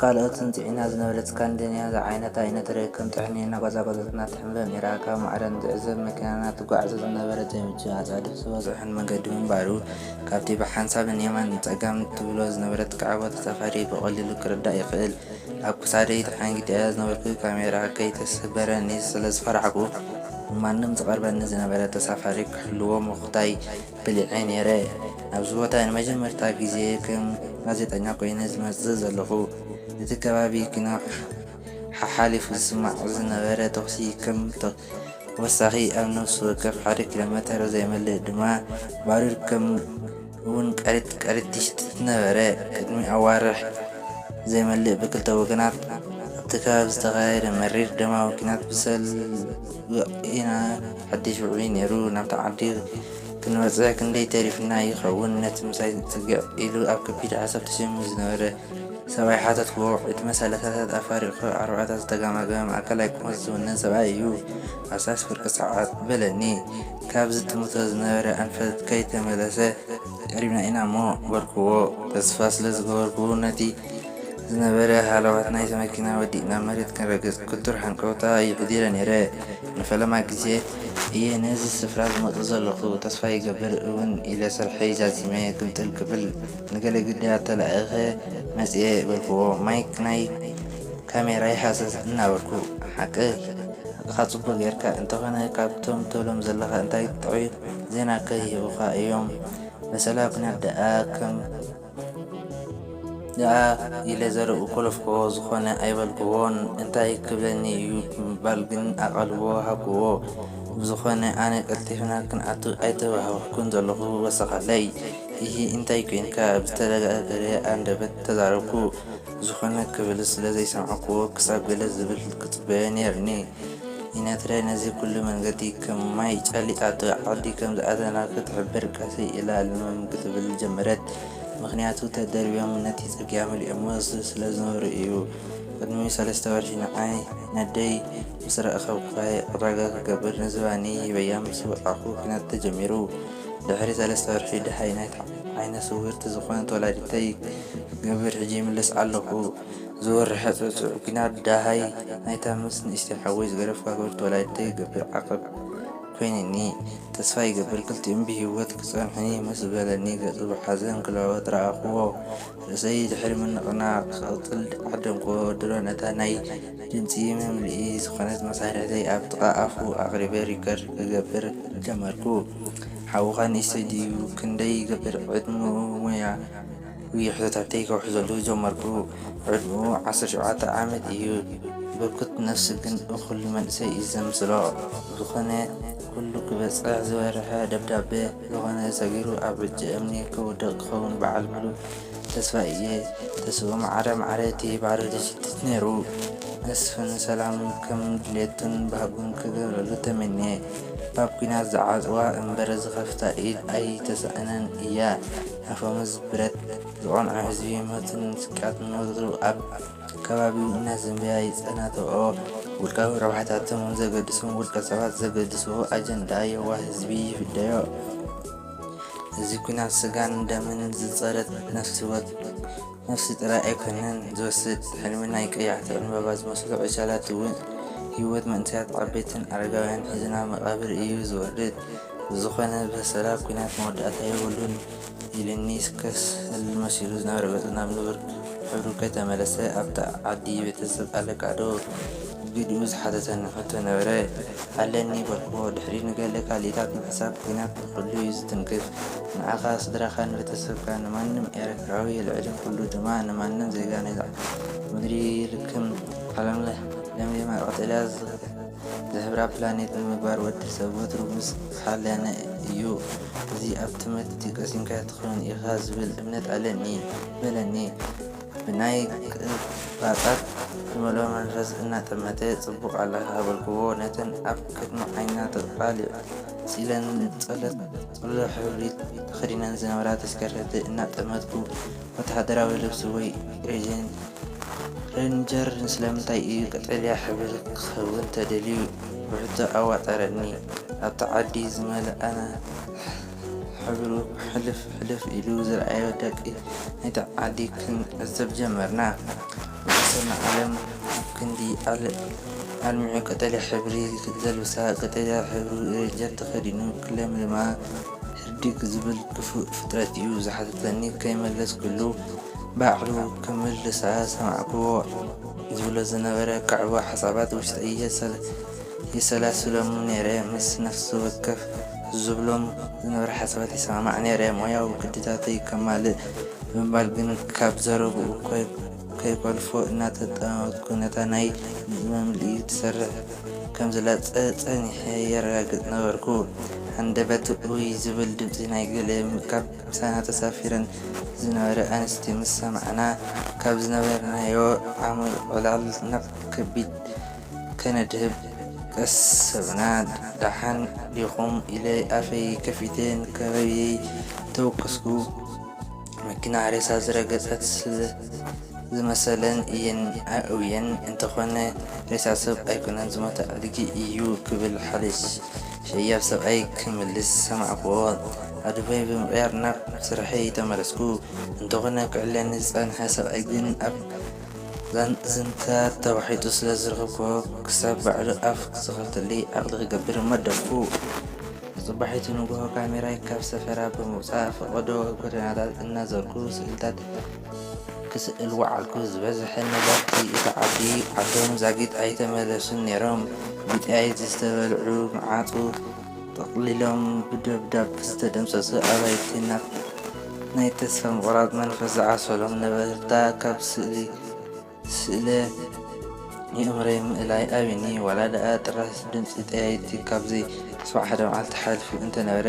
ካልኦት ጽንጽዒና ዝነበረት ስካንዲንያ ዝዓይነታ ኣይነተረይ ከም ጥሕኒ እናቆጻቆጸትና ትሕምበ ነይራ። ካብ ማዕረ ንዝዕዘብ መኪናና ትጓዕዞ ዝነበረት ዘይምቹእ ኣጻድፍ ዝበዝሖን መንገዲ ምንባሩ ካብቲ ብሓንሳብ ንየማን ንጸጋም ትብሎ ዝነበረት ካዕቦ ተሳፋሪ ብቐሊሉ ክርዳእ ይኽእል። ኣብ ክሳደይ ተሓንጊጠያ ዝነበርኩ ካሜራ ከይትስበረኒ ስለዝፈራሕኩ ንማንም ዝቐርበኒ ዝነበረ ተሳፋሪ ክሕልዎ ምኽታይ በሊዐ ነይረ። ኣብዚ ቦታ እየ ንመጀመርታ ግዜ ከም ጋዜጠኛ ኰይነ ዝመጽእ ዘለኹ። እቲ ከባቢ ግና ሓሓሊፉ ዝስማዕ ዝነበረ ተዅሲ ከም ተወሳኺ ኣብ ነፍሲ ወከፍ ሓደ ኪሎሜተር ዘይመልእ ድማ ባሩድ ከምኡ'ውን ቀሪት ቀሪት ይሽትት ነበረ። ቅድሚ ኣዋርሕ ዘይመልእ ብክልተ ወገናት ኣብቲ ከባቢ ዝተኻየደ መሪር ደማዊ ኲናት ብሰልቢ ኢና። ሓድሽ ውዑይ ነይሩ ናብታ ዓዲ ክንበጽሕ ክንደይ ተሪፍና ይኸውን ነቲ ምሳይ ጽግዕ ኢሉ ኣብ ከቢድ ሓሳብ ተሸሚሙ ዝነበረ ሰብኣይ ሓተትክዎ ዕድመ ሰላሳታት ኣፋሪቑ ኣርባዕታ ዝተጋማገመ ማእከላይ ቁመት ዝውንን ሰብኣይ እዩ ሃሳስ ፍርቂ ሰዓት በለኒ ካብ ዝጥምቶ ዝነበረ ኣንፈት ከይተመለሰ ቀሪብና ኢና እሞ በልክዎ ተስፋ ስለ ዝገበርኩ ነቲ ዝነበረ ሃለዋት ናይ'ታ መኪና ወዲእና መሬት ክንረግጽ ክቱር ሃንቀውታ ይሕዲረ ነይረ። ንፈለማ ግዜ እየ ነዚ ስፍራ ዝመጽእ ዘለኹ፣ ተስፋ ይገብር እውን ኢለ ስርሐይ ዛዚመ ግምጥል ክብል ንገለ ግዳያት ተላኢኸ መጺኤ በልኩዎ። ማይክ ናይ ካሜራይ ሃሰስ እናበልኩ። ሓቅኻ ጽቡቕ ጌርካ፣ እንተኾነ ካብቶም ትብሎም ዘለኻ እንታይ ጥዑይ ዜና'ከ ይህቡኻ እዮም፣ በሰላ ኵናት ደኣ ከም። ደኣ ኢለ ዘረብኡ ኮለፍኩዎ፣ ዝኾነ ኣይበልኩዎን። እንታይ ክብለኒ እዩ ብምባል ግን ኣቓልቦ ሃብኩዎ። ብዝኾነ ኣነ ቀልጢፍና ክንኣቱ ኣይተባህኩን ዘለኹ፣ ወሰኸለይ። እሂ እንታይ ኴንካ? ብዝተደጋገረ ኣንደበት ተዛረብኩ። ዝኾነ ክብልስ ስለ ዘይሰማዕኩዎ ክሳብ ገለ ዝብል ክጽበዮ ነይሩኒ። ኢና ትግራይ ነዚ ኩሉ መንገዲ ከም ማይ ጨሊጣቶ ዓዲ ከም ዝኣተና ክትሕብር ቀስይ ኢላ ልምም ክትብል ጀመረት ምኽንያቱ ተደርብዮም ነቲ ፅርግያ መሊኦሞ ስለ ዝነበሩ እዩ ቅድሚ ሰለስተ ወርሒ ንዓይ ነደይ ምስ ረእኸብኩኻየ ዕዳጋ ክገብር ንዝባኒ ሂበያ ምስ ወፃእኹ ኲናት ተጀሚሩ ድሕሪ ሰለስተ ወርሒ ደሃይ ናይታ ዓይነ ስውርቲ ዝኾነት ወላዲተይ ክገብር ሕጂ ይምልስ ኣለኹ ዝወርሐ ጸጹዕ ግና ደሃይ ናይታ ምስ ንእሽተይ ሓወይ ዝገደፍካ ክብርቲ ወላዲተይ ዝገብር ዓቐብ ኮይኑኒ። ተስፋ ይገብር ክልቲኦም ብሂወት ክጸንሑኒ ምስ በለኒ ገጹ ብሓዘን ክለዋወጥ ረኣኹዎ። ርእሰይ ድሕሪ ምንቕናቕ ክቕጽል ዓደምኩዎ። ድሮ ነታ ናይ ድምጺ መምልኢ ዝኾነት መሳርሒተይ ኣብ ጥቓ ኣፉ ኣቕሪበ ሪከርድ ክገብር ጀመርኩ። ሓውኻ ንእሽተይ ድዩ? ክንደይ ይገብር ዕድመኡ? ሞያ? ዊዒ ሕቶታተይ ከውሕዘሉ ጀመርኩ። ዕድመኡ ዓሰርተ ሸውዓተ ዓመት እዩ። ብርኩት ነፍሲ ግን እኹል መንእሰይ እዩ ዘምስሎ። ብዝኾነ ኩሉ ክበጽሕ ዝበርሐ ደብዳበ ዝኾነ ሰጊሩ ኣብ ዕጭ እምኒ ከውድቕ ክኸውን በዓል ምሉእ ተስፋ እየ። ተስፍኡ ማዕረ ማዕረ እቲ ባዶ ድጅቲት ነይሩ። መስፍን ሰላም ከም ድሌቱን ባህጉን ክገብረሉ ተመንየ። ባብ ኲናት ዝዓጽዋ እምበር ዝኸፍታ ኢድ ኣይተሳእናን እያ። ኣፈሙዝ ብረት ዝቐንዖ ህዝቢ ሞትን ስቅያትን ወትሩ ኣብ ከባቢኡ እናዘንበያ ይጸናትኦ። ውልቃዊ ረብሓታቶም ዘገድሶም ውልቀ ሰባት ዘገድስዎ ኣጀንዳ የዋህ ህዝቢ ይፍደዮ። እዚ ኲናት ስጋን ደምን ዝጸረት ነፍሲ ወከፍ ነፍሲ ጥራይ ኣይኮነን ዝወስድ፣ ሕልሚ ናይ ቀያሕቲ ዕንበባ ዝመስሉ ዕሸላት እውን ህይወት መንእሰያት ዓበይትን ኣረጋውያንን ሒዙ ናብ መቓብር እዩ ዝወርድ። ብዝኾነ ብሰላ ኲናት መወዳእታ የብሉን ኢሉኒ ስከስ ህልም መሲሉ ዝነበረ ገጹ ናብ ንቡር ሕብሩ ከይተመለሰ ኣብታ ዓዲ ቤተሰብ ኣለካዶ? ግድኡ ዝሓተተኒ ሕቶ ነበረ። ኣለኒ በልኩዎ። ድሕሪኡ ንገለ ካልኢታት ምሕሳብ ኲናት። ኩሉ እዩ ዝትንክፍ ንዓኻ ስድራኻን ቤተሰብካን ንማንም ኤረትራዊ ልዕሊ ኩሉ ድማ ንማንም ዜጋ ናይዛ ምድሪ ልክም ዓለምለህ ለምሊማ ቀጠልያ ዝሕብራ ፕላኔት ንምግባር ወዲ ሰብ ወትሩ ምስ ዝሓለነ እዩ እዚ ኣብ ትምህርቲ ቀሲምካ ትኸውን ኢኻ ዝብል እምነት ኣለኒ በለኒ ብናይ ቅባጣት ዝመልኦ መንፈስ እናጠመተ ጽቡቕ ኣለኻ በልክዎ ነተን ኣብ ቅድሚ ዓይና ተቓሊዑ ኢለን ጸሎት ጽሉል ሕብሪ ተኸዲነን ዝነበራ ተሽከርከርቲ እናጠመትኩ፣ ወተሃደራዊ ልብሲ ወይ ሬጅን፣ ሬንጀር፣ ስለምንታይ እዩ ቀጠልያ ሕብሪ ክኸውን ተደልዩ? ብሕቶ ኣዋጠረኒ። ኣብቲ ዓዲ ዝመልኣና ሕብሩ ሕልፍ ሕልፍ ኢሉ ዝረኣዮ ደቂ ናይቲ ዓዲ ክንዕዘብ ጀመርና። ሰነኣለም ኣብ ክንዲ ኣልሚዑ ቀጠልያ ሕብሪ ዘልብሳ ቀጠልያ ሕብሪ ረጀን ተኸዲኑ ክለምልማ ህርዲግ ዝብል ክፉእ ፍጥረት'ዩ ዝሓተተኒ ከይመለስኩሉ ባዕሉ ክምልሳ ሰማዕክዎ ዝብሎ ዝነበረ ክዕቦ ሓሳባት ውሽጠይ የሰላስሎም'ዩ ነይረ ምስ ነፍስወከፍ ዝብሎም ዝነበረ ሓሳባት ይሰማማዕ ነይረ፣ ሞያዊ ግድታተይ ከማልእ ብምባል ግን ካብ ዘረብኡ ከይኮልፎ እናተጠማመትኩ ነታ ናይ መምልኢ ትሰርሕ ከም ዘላ ጸኒሐ የረጋግጽ ነበርኩ። ሃንደበት ኡይ ዝብል ድምጺ ናይ ገለ ካብ ምሳና ተሳፊረን ዝነበራ ኣንስቲ ምስ ሰማዕና ካብ ዝነበርናዮ ዓሚቝ ዕላል ናብ ከቢድ ከነድህብ ቀሰብና ዳሓን ዲኹም ኢለ ኣፈይ ከፊተ ንከባብየይ ተወከስኩ መኪና ሬሳ ዝረገጸት ስለ ዝመሰለን እየን ኣእውየን እንተኾነ ሬሳ ሰብ ኣይኮነን ዝሞተ ኣድጊ እዩ ክብል ሓደ ሸያብ ሰብኣይ ክምልስ ሰማዕኩዎ ኣዱበይ ብምቕያር ናብ ስርሐይ ተመለስኩ እንተኾነ ክዕለኒ ዝጸንሐ ሰብኣይ ግን ኣብ ዛንታታት ተዋሒጡ ስለ ዝረኸብኩዎ ክሳብ ባዕሉ ኣፍ ክኸፍተለይ ዓቕሊ ክገብር መደብኩ። ንጽባሒቱ ንግሆ ካሜራይ ካብ ሰፈራ ብምውጻእ ፈቐዶ ጎደናታት እናዘርኩ ስእልታት ክስእል ወዓልኩ። ዝበዝሐ ነበርቲ እታ ዓዲ ዓዶም ዛጊት ኣይተመለሱን ነይሮም። ብጥይት ዝተበልዑ መዓጹ፣ ጠቕሊሎም ብደብዳብ ዝተደምሰሱ ኣባይቲ ናብ ናይ ተስፋ ምቑራጽ መንፈስ ዝዓሰሎም ነበርታ ካብ ስእሊ ስእለ የእምሮይ ምእላይ ኣብዩኒ። ዋላ ደኣ ጥራስ ድምጺ ጠያይቲ ካብ ዘይስማዕ ሓደ መዓልቲ ሓሊፉ እንተ ነበረ፣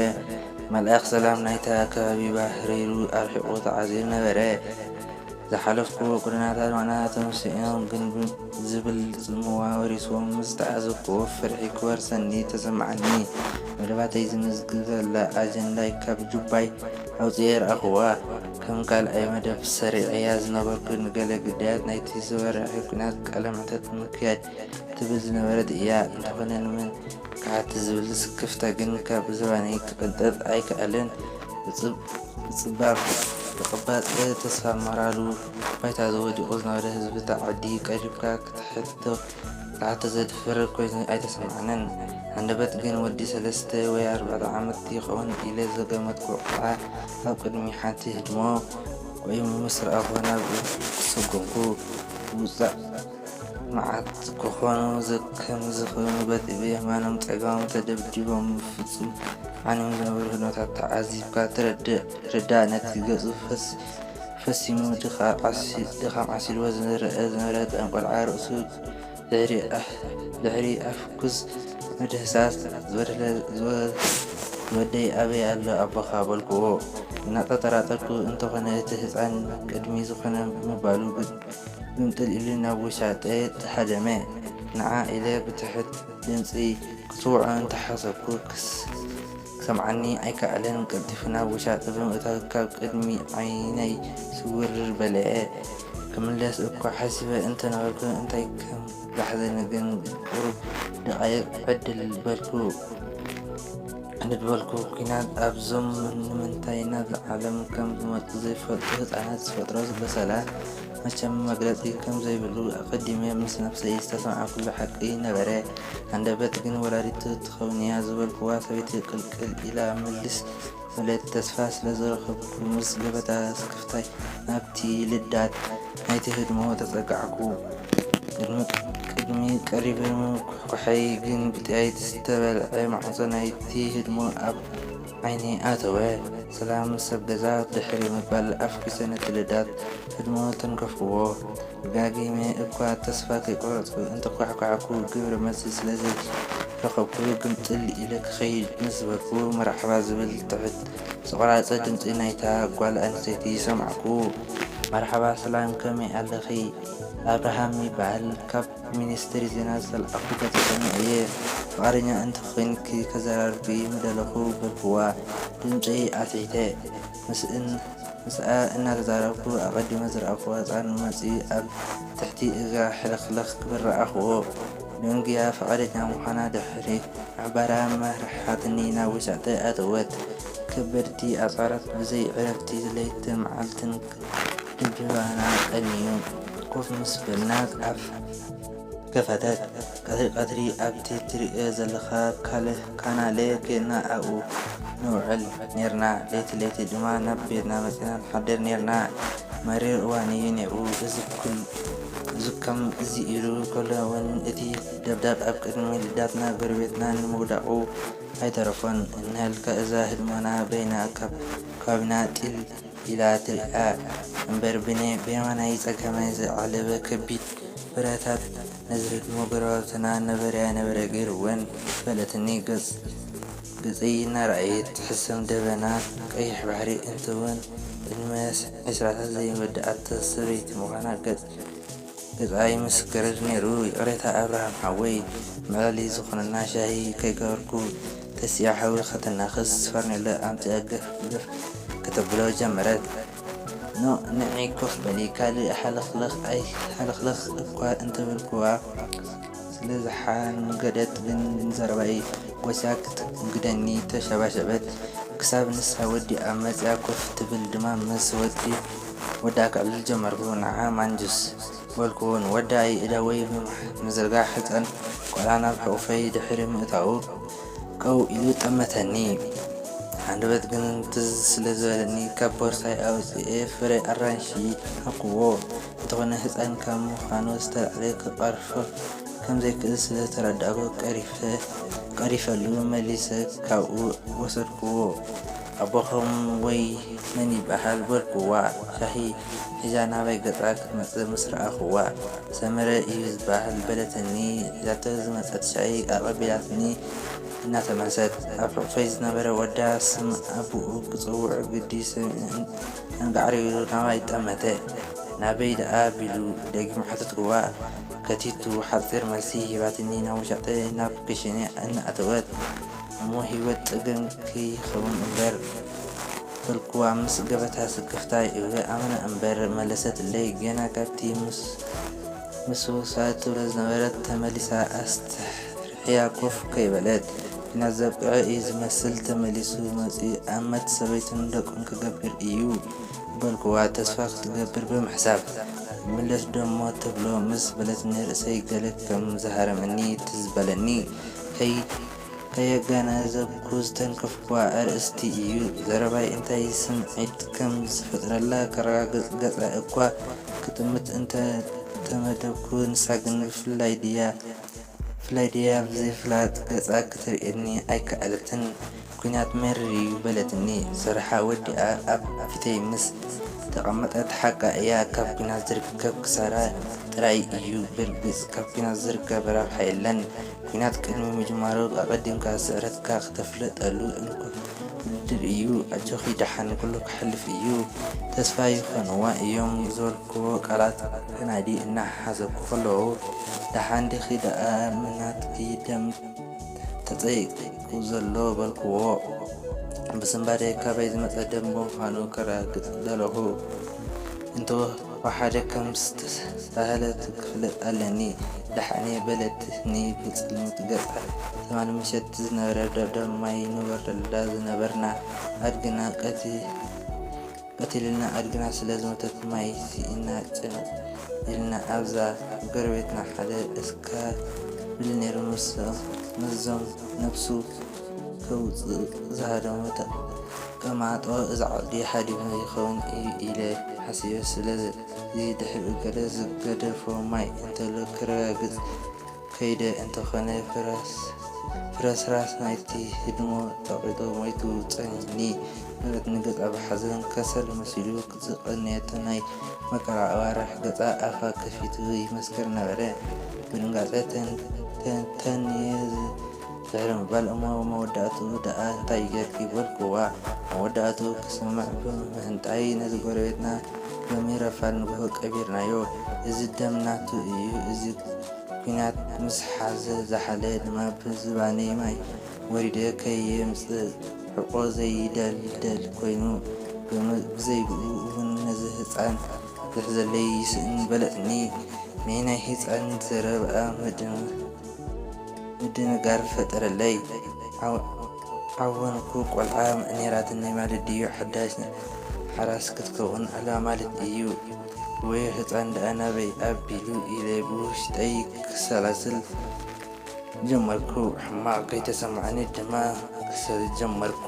መልኣኽ ሰላም ናይታ ከባቢ ባህሪሩ ኣርሒቑ ተዓዚሩ ነበረ። ዝሓለፍኩዎ ጎደናታት ማዕድናት ተመሲጦም ግን፣ ዝብል ጽምዋ ወሪስዎም ምስ ዝተዓዘብኩዎ ፍርሒ ክወርሰኒ ተሰምዓኒ። መደባተይ ዝምዝግበላ ኣጀንዳይ ካብ ጁባይ ኣውጺኤ ረኣኹዋ። ከም ካልኣይ መደብ ሰሪዐያ ዝነበርኩ ንገለ ግዳያት ናይቲ ዝበርሐ ኲናት ቃለመሕተት ምክያድ ትብል ዝነበረት እያ። እንተኾነ ንመን ክሓትት ዝብል ስክፍታ ግን ካብ ዝባነይ ክቕንጠጥ ኣይከኣለን። ብጽባብ ተቐባጸ ተስፋ ሞራሉ። ባይታ ወዲቑ ዝነበረ ህዝቢ እታ ዓዲ ቀሪብካ ክትሓቶ ክትሓቶ ዘድፍር ኮይኑ ኣይተሰማዓንን። ሃንደበት ግን ወዲ ሰለስተ ወይ ኣርባዕተ ዓመት ይኸውን ኢለ ዝገመትኩ ቆልዓ ኣብ ቅድሚ ሓንቲ ህድሞ ቆይሙ ምስ ረኣኹ ናብኡ ሰጎምኩ። ውጻእ መዓት ክኾኑ ዘከም ዝኽኑ በቲ ብየማኖም ጸጋሞም ተደብዲቦም ብፍጹም ዓንዮም ዝነበሩ ህድሞታት ተዓዚብካ ትርዳእ። ነቲ ገጹ ፈስ ፈጺሙ ድኻም ዓሲልዎ ዝረኣ ዝነበረ ጣን ቆልዓ ርእሱ ድሕሪ ኣፍኲስ ምድህሳስ ዝወደይ ኣበይ ኣሎ ኣቦኻ? በልክዎ። እናጠራጠርኩ እንተኾነ እቲ ህጻን ቅድሚ ዝኾነ ምባሉ ግምጥል ኢሉ ናብ ውሻጠይ ሃደመ። ንዓ ኢለ ብትሑት ድምጺ ክጽውዖ እንተሓሰብኩ ክስ ክሰምዓኒ ኣይከኣለን ቀልጢፉ ናብ ውሻጠ ብምእታው ካብ ቅድሚ ዓይነይ ስውርር በለ። ክምለስ እኳ ሓሲበ እንተነበርኩ እንታይ ከም ዘሕዘኒ ግን ቁሩብ ደቓይቕ ዕድል በልኩ። ዕንድድ በልኩ። ኲናት ኣብዞም ንምንታይ ናብዛ ዓለም ከም ዝመጹ ዘይፈልጡ ህጻናት ዝፈጥሮ በሰላ፣ መቸም መግለጺ ከም ዘይብሉ ኣቀዲመ ምስ ነብሰይ ዝተሰምዓኩሉ ሓቂ ነበረ። ሃንደበት ግን ወላዲቱ ትከውን ኢያ ዝበልኩዋ ሰበይቲ ቅልቅል ኢላ ምልስ በለት። ተስፋ ስለ ዝረከብኩ ምስ ገበታ ስክፍታይ ናብቲ ልዳት ናይቲ ህድሞ ተጸጋዕኩ። ቅድሚ ቀሪበ ምኩሕኳሐይ ግን ብጥይት ዝተበልዐ ማዕጾ ናይቲ ህድሞ ኣብ። ዓይኒ ኣተወ ሰላም ሰብ ገዛ ድሕሪ ምባል ኣፍኪ ሰነቲ ልዳት ህድሞ ተንከፍክዎ ደጋጊመ እኳ ተስፋ ከይቆረጽኩ እንተኳሕኳሕኩ ግብረ መልሲ ስለ ዘይረኸብኩ ግምጥል ኢለ ክኸይድ ምስ ዝበልኩ መርሓባ ዝብል ትሕት ዝቆራጸ ድምጺ ናይታ ጓል ኣንስተይቲ ሰማዕኩ። መርሓባ ሰላም ከመይ ኣለኺ ኣብርሃም ይባሃል ካብ። ናብ ሚኒስትሪ ዜና ዝተልኣኹ ጋዜጠኛ እየ ፍቓደኛ እንተ ዄንኪ ከዘራርብኪ ምደለኹ በልክዋ ድምጸይ ኣትሒተ። ምስኣ እናተዛረብኩ ኣቐዲመ ዝረኣኹዎ ህጻን መጺኡ ኣብ ትሕቲ እግራ ሕልኽልኽ ክብል ረኣኹዎ። ደንጉያ ፍቓደኛ ምዃና ድሕሪ ምሕባራ መሪሓትኒ ናብ ውሽጢ ኣተወት። ከበድቲ ኣጽዋራት ብዘይ ዕረፍቲ ለይትን መዓልትን እንጀራና ቀንዩ ኮፍ ምስ በልና ኣፍ ከፈተት። ቀትሪ ቀትሪ ኣብቲ ትርእዮ ዘለኻ ካናለ ኬድና ኣብኡ ንውዕል ኔርና። ለይቲ ለይቲ ድማ ናብ ቤትና መጺና ንሓድር ኔርና። መሪር እዋን'ዩ ኔሩ። እዚ ከም'ዚ ኢሉ ከሎ'ውን እቲ ደብዳብ ኣብ ቅድሚ ልዳትና ጎረቤትና ንምውዳቑ ኣይተረፎን። እንሀልካ እዛ ህድሞና በይና ካብ ከባቢና ጢል ኢላት'ያ እምበር ብኔ ብየማናይ ጸጋማይ ዝዓለበ ከቢድ ብረታት ነዝረድሞ ጎረባብትና ነበረ ኣይነበረ ገይሩወን በለትኒ ገጽ ገጸይ እናረኣየት ትሕሰም ደበና ቀይሕ ባሕሪ እንትወን ዕድመ ዕስራታት ዘይወደኣት ሰበይቲ ምዃና ገጽ ገዛይ ምስ ገረድ ነይሩ ይቅሬታ ኣብርሃም ሓወይ መላሊት ዝኮነና ሻሂ ከይገበርኩ ተሲኣ ሓዊ ከተናክስ ፈርኔሎ ኣምጺኣ ገፍ ገፍ ከተብሎ ጀመረት ን ንዒ ኮፍ በሊ ካልእ ሃለክለክ ኣይ ሃለክለክ እኳ እንተበልኩዋ ስለዝሓንገደት ግን ንዘረባይ ጎስያ ክትእንግደኒ ተሸባሸበት ክሳብ ንሳ ወዲኣ መጺኣ ኮፍ ትብል ድማ ምስ ወዲ ወዳ ከዕልል ጀመርኩ ንዓ ማንጁስ በልክዎ ንወዳ ኢደወይ ብምዝርጋሕ ህጻን ቆልዓ ናብ ሕቁፈይ ድሕሪ ምእታዉ ቀው ኢሉ ጠመተኒ ሃንደበት ግን ትዝ ስለ ዝበለኒ ካብ ቦርሳይ ኣውጺኤ ፍረ ኣራንሺ ሃብክዎ እንተኮነ ህጻን ካብ ምካኑ ዝተላዕለ ክቀርፎ ከም ዘይክእል ስለ ዝተረዳእኩ ቀሪፈሉ መሊሰ ካብኡ ወሰድክዎ። ኣቦኹም ወይ መን ይበሃል በልኩዋ ሻሂ ሒዛ ናባይ ገጻ ክትመጽእ ምስ ረኣኹዋ። ሰመረ ኢዩ ዝበሃል በለትኒ ሒዛቶ ዝመጸት ሻሂ ኣቐቢላትኒ እናተመልሰት። ኣብ ሕቑፈይ ዝነበረ ወዳ ስም ኣቡኡ ክጽውዖ ግዲ ሰሚዑ ኣንጋዕር ኢሉ ናባይ ጠመተ። ናበይ ደኣ ቢሉ ደጊሙ ሓተትኩዋ ከቲቱ ሓጺር መልሲ ሂባትኒ ናብ ውሻጠ ናብ ክሽነ እናኣተወት። እሞ ሂወት ጸገም ክይከውን እምበር በልኩዋ ምስ ገበታ ስክፍታ ይእወ ኣመና እምበር መለሰትለይ ገና ካብቲ ምስውሳድ ትብሎ ዝነበረት ተመሊሳ ኣስተርሕያ ኮፍ ከይበለት ኩናት ዘብቅዐ እዩ ዝመስል ተመሊሱ መጽዩ ኣመት ሰበይቱን ደቁን ክገብር እዩ በልኩዋ ተስፋ ክትገብር ብምሕሳብ ይምለስ ዶሞ ትብሎ ምስ በለትኒ ርእሰይ ገለ ከም ዝሃረመኒ ትዝ በለኒ ከይ ከየገናዘብኩ ዝተንከፍኩዋ ኣርእስቲ እዩ። ዘረባይ እንታይ ስምዒት ከም ዝፈጥረላ ከረጋግጽ ገጻ እኳ ክጥምት እንተ ተመደብኩ፣ ንሳ ግን ብፍላይ ድያ ብፍላይ ድያ ብዘይፍላጥ ገጻ ክትርእየኒ ኣይከኣለትን። ኲናት መሪር እዩ በለትኒ። ስርሓ ወዲኣ ኣብ ፊተይ ምስ ተቐመጠት፣ ሓቃ እያ ካብ ኲናት ዝርከብ ክሳራ ጥራይ እዩ። ብርግጽ ካብ ኲናት ዝርከብ ረብሓ የለን። ኲናት ቅድሚ ምጅማሩ ኣቐዲምካ ስዕረትካ ክተፍልጠሉ እንኮ መድብ እዩ ኣጆኺ ደሓን ኩሉ ክሓልፍ እዩ ተስፋ ይኾንዋ እዮም ዝበልክዎ ቃላት ከናዲ እናሓሰብኩ ከለኹ ደሓን ዲኺ ደኣ ምናትኪ ደም ተጸይቁ ዘሎ በልክዎ ብስንባደ ካበይ ዝመጸ ደም ምዃኑ ከረጋግጽ ደለኹ እንተ ወሓደ ከም ዝተባህለት ክፍለጥ ኣለኒ ደሓኔ በለት ን ብጽልምት ገጻ ትማል ምሸት ዝነበረ ደብዳብ ማይ ንወርደላ ዝነበርና ኣድግና ቀቲሉልና ኣድግና ስለ ዝሞተት ማይ ሲኢና ጭንቅ ኢልና ኣብዛ ጎረቤትና ሓደ እስካብል ኔሩ ምስዞም ነብሱ ከውጽእ ዝሃደሙ ተማጦ እዚ ዓዲ ሓዲሙ ይኸውን እዩ ኢለ ሓሲበ ስለዚ ድሕሪኡ ገለ ዝገደፎ ማይ እንተሎ ክረጋግጽ ከይደ እንተኾነ ፍረስራስ ናይቲ ህድሞ ጸቒጡ ሞይቱ ጸኒሕኒ በለት ንገጻ ብሓዘን ከሰል መሲሉ ዝቐነየቶ ናይ መከራ ኣዋርሕ ገጻ ኣፋ ከፊቱ ይመስክር ነበረ ብድንጋጸ ተንተንየ ድሕሪ ምባል እሞ ኣብ መወዳእትኡ ደኣ እንታይ ጌርኪ በልኩዋ። መወዳእትኡ ክስማዕ ብምህንጣይ ነዚ ጎረቤትና ሎሚ ረፋድ ንግሆ ቀቢርናዮ። እዚ ደም ናቱ እዩ። እዚ ኲናት ምስ ሓዘ ዝሓለ ድማ ብዝባነይ ማይ ወሪደ ከየምጽዕቆ ዘይደልደል ኮይኑ ብዘይብኡ እውን ነዚ ህጻን ዝሕዘለይ ይስእን በለትኒ። ንይ ናይ ህጻን ዘረብኣ መደምደምታ። ምድንጋር ፈጠረለይ ዓወንኩ ቆልዓ ነይራትኒ ማለት ድዩ ሓዳሽ ሓራስ ክትከውን ኣላ ማለት እዩ ወዮ ህጻን ድኣ ናበይ ኣቢሉ ኢለ ብውሽጠይ ክሰላስል ጀመርኩ ሕማቕ ከይተሰማዓኒ ድማ ክሰሊ ጀመርኩ።